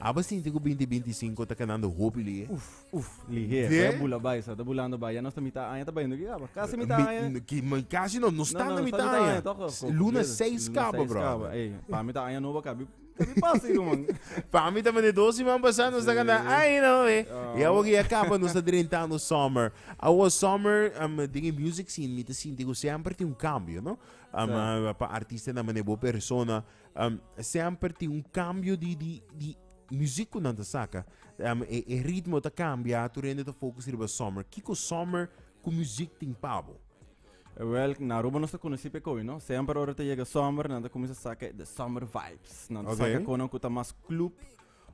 Aba sinti ku binti binti sinku ta kanando hopi lihe? Uf, uf, lihe. Te? Ta bula bai, sa ta bulando bai. Ya nos ta mita aña ta bayendo ki kaba. Kasi mita Mi- aña. n- ki- mi- Kasi no, no sta na mita aña. toch? S- Ko- Luna kumbida. seis Luna kaba, seis brother. Ey, pa mi ta aña nobo kabi kabi pasa ei ruman. Pa mi ta mende dos siman pasá nos ta kanta Sí. ay no eh. Ah. Y awo ke ya kaba nos ta drentando summer. Awo summer um, den e music scene mi ta sinti ku semper tin un kambio, no? Um, Sa. ah, pa artistanan mane bo persona Um, semper tin un cambio di, di, di muziek ku nan ta saka. Um, e, e ritmo ta cambia, tu rende ta focus riba summer. Kiko summer ku muziek tin pabo? Wel, na Aruba nos ta conocí pe koe, no? Semper ora ta llega summer, nan ta comienza saca de summer vibes. Nan ta okay. saca konan ku ta mas club,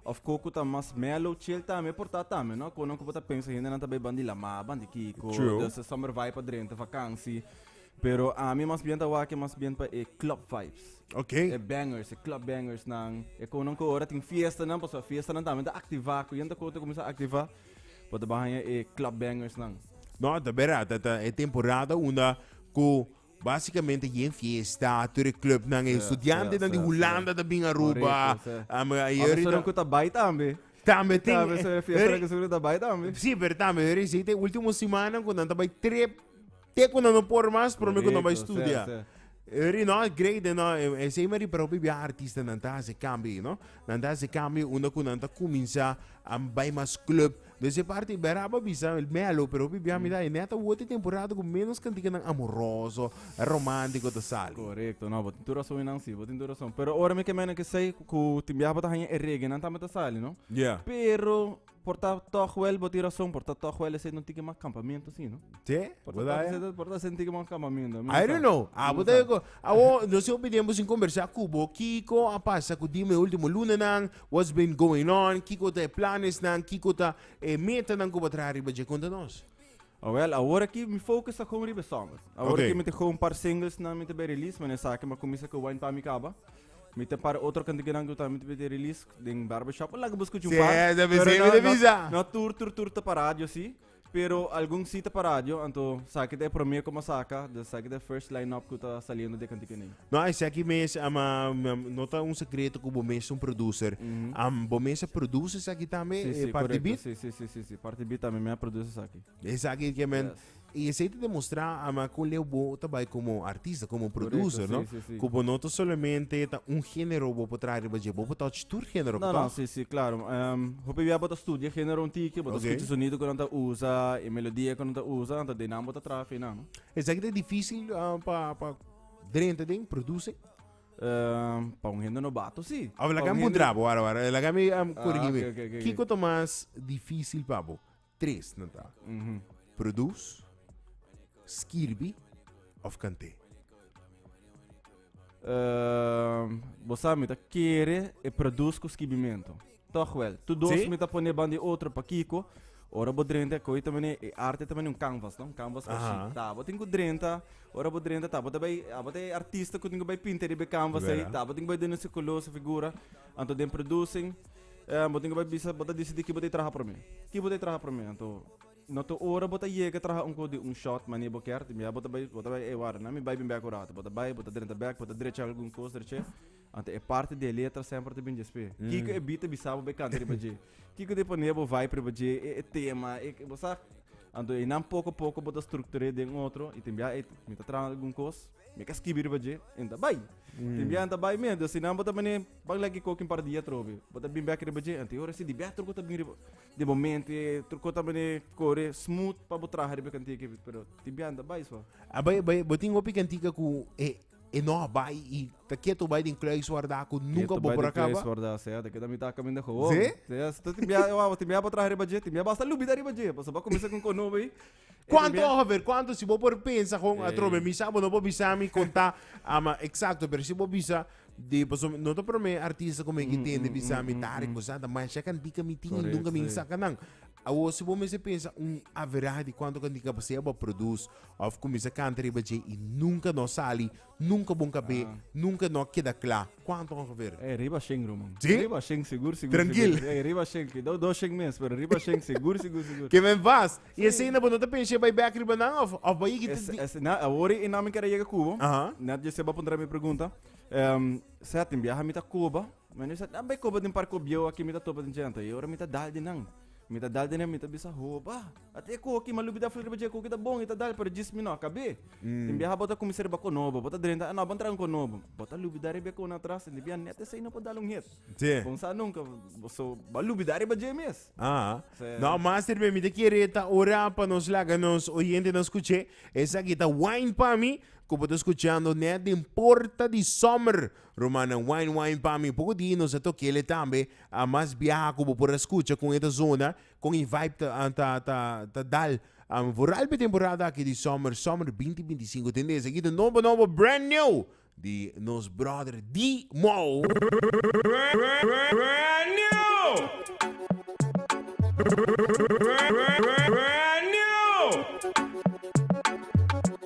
Of cu cu ta mas mellow chill tambe por ta tambe no cono cu bo ta pensa hendenan ta bay bandi lama bandi kico True. de ese summer vibe pa drenta vakansi pero ami mas bien ta wak mas bien pa e club vibes Ok. e bangers e club bangers nan e cono cu ora tin fiestanan pasobra fiestanan tambe ta activa cu yen ta coto cuminsa activa bo ta bay haña e club bangers nan No, ta bera, ta, ta e temporada unda cu Básicamente y en fiesta tur e clubnan e estudiantenan di Hulanda ta bin Aruba. Um, a Abe Yuri sunan ku ta bai tambe. tambe tin. Tambe so e fiesta Yuri- ku sunan ta bai tambe. Sí, pero tambe Yuri sí te último semana ku nan ta bai trip. Te ku nan no por mas, pero mi ku nan bai Correcto, studia. sí, sí. Yuri no, great eh, no. Eh, eh, Sei mari pero bibi artista nan ta hasi cambio, no. Nan ta hasi cambio unda ku nan ta kuminsá a bai mas club, Desde e parti Beraba a bisa el melo, pero hopi bia mira e neta woti temporada ku menos kantiganan amoroso, romantico ta sali. Korekto, no bo tin tur rason inan si, bo tin tur rason. Pero ora mi ke mene kesei ku tin biaha bo ta haña e reggae nan tambe ta sali, no? Ya. Pero por ta tòg wèl bo tin rason, por ta tòg wèl esei nan tin kiman kampamentu si, no? Te? Por Bo ta ta tòg esei, por ta esei nan tin kiman kampamentu. I don't know. A bo ta yo ko, awo, no si hopi tempu sin kombersá ku bo, Kiko a pasa ku dime último lunanan, What's been going on? Kiko ta e planesnan? Kiko ta e metanan ku bo traha riba dje? Konta nos. Oh well, awor aki mi focus ta gewoon riba e summer. Awor Oké. aki mi ta gewoon par singlesnan mi ta bay release, mené esaki mi a kuminsa ku Wine pa mi kaba. Mi ten par otro kantikinan ku tambe mi ta bay te release den Barbershop. Laga bo skucha un Sí, par. debe Pero ser, mi no- te no- bisa. No tur tur tur ta pa radio si. Pero algun si ta pa radio, anto saki ta e promé komo saka, dus saki ta e first line-up ku ta saliendo di e kantiku nei. No, ai seki mes, ah, ma, ma- no ta un sekreto ku bo mes un producer. Am, bo mes a produce saki tambe, Si, eh, si, parti korekto. beat? Si, si, si, si, si. Parti beat tambe mi a produce saki. Esaki ke men. Yes. I esei ta demostra ama ku leu bo ta bai komo artista, komo Correcto, producer, no? sí, sí, sí. Ku bo no ta solamente ta un género bo por traha riba dje, bo por touch tur género, No, no, toch? sí, sí, claro. Em, hopi bia bo ta studia género un tiki, bo ta Oké. skucha sonido ku nan ta usa, e melodia ku nan ta usa, anta den nan bo ta traha finan, no? Esaki ta difícil ah, pa, pa drenta den, produce? Em, pa un hende nobato, sí. Of, Pa laga un mi hende- puntra bo, wara, wara. Laga mi am Ah, corigi mi. ok, ok, ok, ok. Kiko ta mas difícil pa bo? Tres nan ta, Produs, Skirbi of Kant'é. Bo sa mi ta kere e produs ku skibimentu. Tòg wèl, tur dos mi ta pone banda e otro pa kiko? Ora bo drenta koe ta manera e arte ta manera un kanvas no? Un kanvas ku shi ta bo tin ku drenta ora bo drenta ta bo ta bai abo ta e artista ku tin ku bai pinta riba e kanvas ei ta bo tin ku bai duna su kolor su figura anto den produsing. Eh, bo tin ke bai bisa, bo ta disidí ki bo ta traha promé. Ki bo ta traha promé? Anto, no ta ora bo ta yega traha un kos di un short mane bo kier. Tin bia bo ta bai, bo ta bai, ey warda, nan mi bai bin bek un rato. Bo ta bai, bo ta drenta bek, bo ta drecha algun kos derech'é. Anto e parti di e letra semper ta bin dj'esp'é. Kiko e bi ta bisa bo bai kanta riba dje? Kiko ta pone bo vibe riba dje? E, e tema, e, bo sa. Anto einan poko poko bo ta struktur'é den otro i tin bia ey, mi ta traha algun kos. Mi ka skibi riba dje, en ta bai. Tin bia en ta bai mes, dus sinan bo ta mane, ban leki koki un par dia atrobe. Bo ta bin bek riba dje, anto e ora si di bia truko ta bin riba. Den bo mente, truko ta mane kore smooth pa bo traha riba e kantika ei, pero tin bia en ta bai so. A bai, bai, bo tin hopi kantika ku e, e no a bai i ta ketu bai den kluis warda ku nunka Ketu bo bai por a den kluis kaba? warda, sea, ta keda mitá kaminda hoon. Sí? Sea, so tin bia, e waw, tin bia bo traha riba dje, tin bia bo asta lubida riba dje, pasobra bo a kuminsá ku un konobo ei. Cuánto a ver, cuánto si vos por pensa con a trobe mi sabo no por bisa mi conta ama exacto, pero si vos bisa de paso no te prome artista come que tiene bisa mi tari cosa da mas ya kan dica mi tin nunca mi saca nan. A vos si vos me se pensa un average de cuánto kan dica pa se abo produce of comienza canta riba je y nunca no sali Nunka bo kabé, nunka no a keda kla kuantu a ongever. Ey, riba shen ruman. Sí? Riba shen segur, segur, Trankil. segur. Ey, riba shen, kidao dos shen mes, pero riba shen segur, segur, segur. Ke men vas. I asina bo no ta pensha bai bek riba nan of of bai yegi Es, di. es, na, awor i na mi kere yega Cuba. Aha. Net José ba puntra mi pregunta, ehm, Setin, biaha mi ta koba? Mi no sa tambe koba den parkobieu aki mi ta topa den djenta i ora mi ta dal di nan mi ta dal di nan mi ta bisa hoba at e koki mi a lubida fla riba dje koki ta bon i ta dal pero djis mi no a kab'é tin biaha bo ta kuminsá riba kon nobo bo ta drenta a no ban traha un kon nobo bo ta lubida riba e kon atras tin di biaha nèt esei no por dal un het bon sa nunka so bo a lubida riba dje mes. No master mi ta kere ta ora pa nos laga nos oyentenan skuch'é esaki ta Wine pa mi ku bo ta skuchando nèt den porta di summer Rumannan wijn wijn pa mi poco di nos a tokele tambe a mas biaha cu bo por a scucha con e ta zona con e vibe ta ta ta ta dal am vooral p'e temporada aki di summer summer binti binti sinku tende esa gita nobo nobo brand new di nos brother Dimo.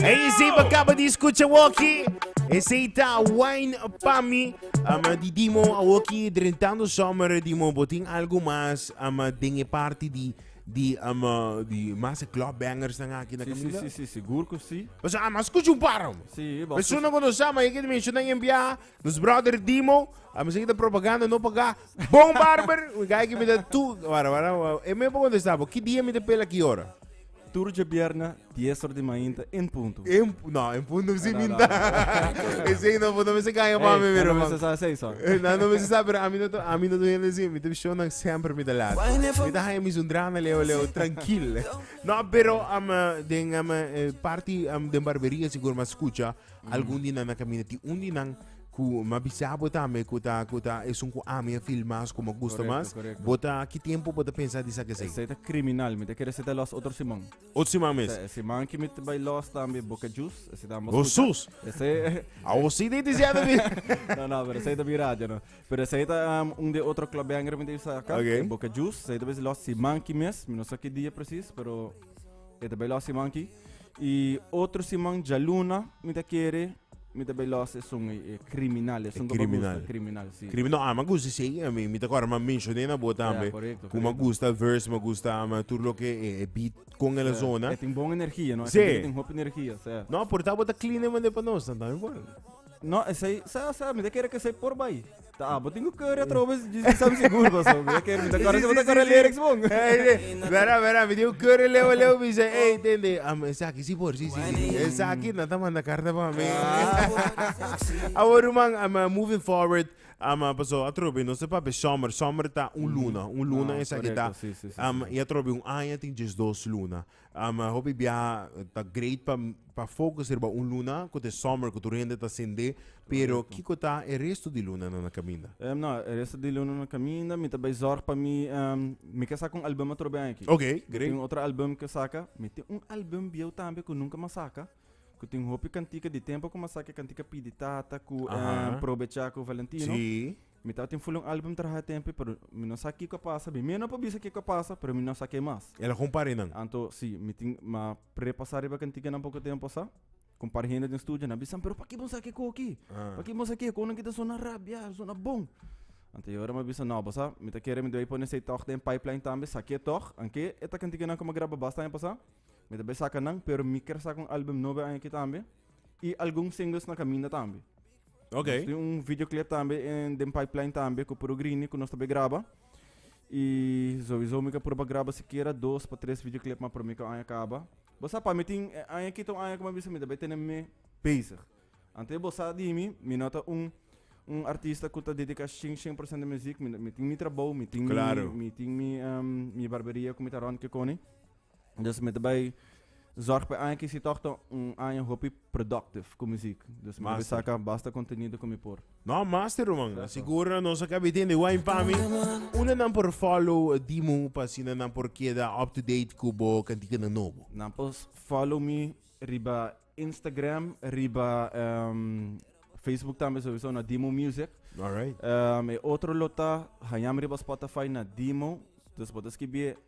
Hey, sim acaba de escuchar Walkie. Ese está Wine Pami. Ama di Dimo, Walkie drentando summer Dimo. Botin algo más ama den e parte di di ama di más club bangers dan aquí na Camila. Sí, sí, sí, seguro que sí. Pues ama escucha un par. Sí, pero eso no conoce, ama hay que mencionar en via. Nos brother Dimo, a mi sa ki ta propaganda no pagá. Bon barber, un guy ki mi ta tu, wara wara, e mi a por kontestá bo, ki dia mi ta pela ki ora? Tur dje bierna, dies ora di mainta, en punto. En, no, en punto si mi no ta. Esei no, bo no mester gaña pa mi mira, man. Ey, nan no mester sa esei so. Nan no mester sa, pero a mi no ta, a mi no ta hende si, mi ta show nan semper mi ta laat. Mi ta haña mi sundranan leo leo, trankil. No, pero, den parti den barberia sigur mi a skucha. Algun di nan a caminda ti un di nan cu ma bisa bo tambe cu ta, cu ta esun cu ami a feel mas, cu me gusta Correcto, mas. correcto. Bo ta, ki tiempo bo ta pensa di esaki esei? Esei ta criminal, mi ta kere esei ta los otro siman. Ot siman mes. Esei siman ki mi ta bai los tambe Boca Juice, esei ta ambos Oh, escucha. sus! Esei A o si di di siete mi. no, no, pero esei ta bi radio, no. Pero esei ta um, un de otro club banger mi ta bisa aka, Ok. e Boca Juice, esei ta besi los siman ki mes, mi no sa ki dia precies, pero E ta bai los siman ki. I otro siman djaluna mi ta kere mi ta bai los esun e, e kriminal, esun ko pa kriminal. gusta kriminal, si. Krimi no, a ma gusta si ei, a mi mi ta kora ma menshon'é na bo tambe. korekto, Ku ma korekto. gusta verse, ma gusta ama tur loke e e beat kon e la zona. E tin bon energia, no? E Sí. tin tin hopi energia, sèt. No, por ta bo ta clean e mand'é pa nos, nan ta mi bon. No, esei, sa, sa, mi ta kere ke esei por bai. Ta, ah, bo tin ku kere atroba es djis sam sigur paso. Mi ta kere, mi ta kore si bo ta kore lyrics bon. Vera, vera, mi tin ku kere leo, leo, mi se, ey, tende, am, esaki si por, si, si, si. Esaki nan ta manda karta pa mi. Awor, ruman, am, moving forward, am, paso atrobe nos e papia summer, summer ta un luna, un luna esaki ta, am, i atrobe un aña tin djesdos luna. Um hopi biaha ta great pa pa focus riba un luna cu ta e summer cu tur hende ta sende, pero Correcto. kico ta e resto di lunanan na caminda? Em, no, e resto di luna na caminda, mi ta bay zorg pa mi, em, mi ke saca un album otro bey aki. Ok, Mi great. tin un otro album ke saca, mi tin un album bieuw tambe cu nunca mi a saca, cu tin hopi cantica di tempo cu mi a saca e cantica Pidi Tata cu, Aha. em, Probecha cu Valentino. Sí. Mi tabatin fula un album traha e tempu, pero mi no sa kiko a pasa. Mi mihnan por bisa kiko a pasa, pero mi no sa ke mas. El a humpari nan. Anto, si, mi tin, m'a prepasá riba kantikanan poco tempu asá. Ku un par hende den studio, nan a bisam, pero pakiko bo no sa ke koki? Pakiko bo no sa ke konan ki ta sona rabia, ta sona bon? Anto e ora m'a bisa, no, bo sa, mi ta kere mi debí pone esei tòg den pipeline tambe, sa ke tòg, anke e ta kantikanan ku m'a graba basta aña pasá. Mi ta bai saka nan, pero mi kier saka un album nobo e aña akí tambe, i algun singles na kaminda tambe. Ok. Nos tin un videoclip tambe en den pipeline tambe ku Puro Grini ku nos ta be graba. I sowieso mi ka proba graba sikiera dos pa tres videoclip ma promi ku aña kaba. Bo sa pa mi tin e aña kita un aña ku mi a bisa mi ta bay tene mi bezig. Anto bo sa di mi mi no ta un un artista ku ta dediká shen shen por sent di muziek mi tin mi trabou mi tin mi Klaro. mi tin mi em mi barberia ku mi ta rònt kikoni. Dus mi ta bai zorg pa e aña aki si tòg ta un aña hopi productive ku muzik. Dus mi ta bai Master. saka basta kontenido ku mi por. No, master ruman. Sa Eso. sigur nos a kabi tende wijn pa mi. Unda nan por follow Dimo pa asina nan por keda up to date ku bo kantikanan nobo? Nan por s- follow mi riba Instagram, riba em, Facebook tambe souso na Dimo Music. Alright. Em, e otro lo ta hañami riba Spotify na Dimo. Dus bo ta skibi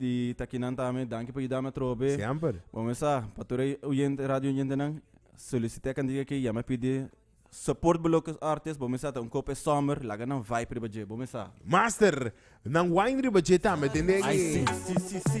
Di takinan tambe danki pa yudami atrobe. Siemper. Bo mesa pa tur e oyente, radio oyentenan, solicite akan di aki, yama pidi support bo loke artes, bo mesa ta un kope summer, laga nan vibe riba dje, bo mesa. Master, nan wine riba dje tambe den den Ai si, e. si, si, si.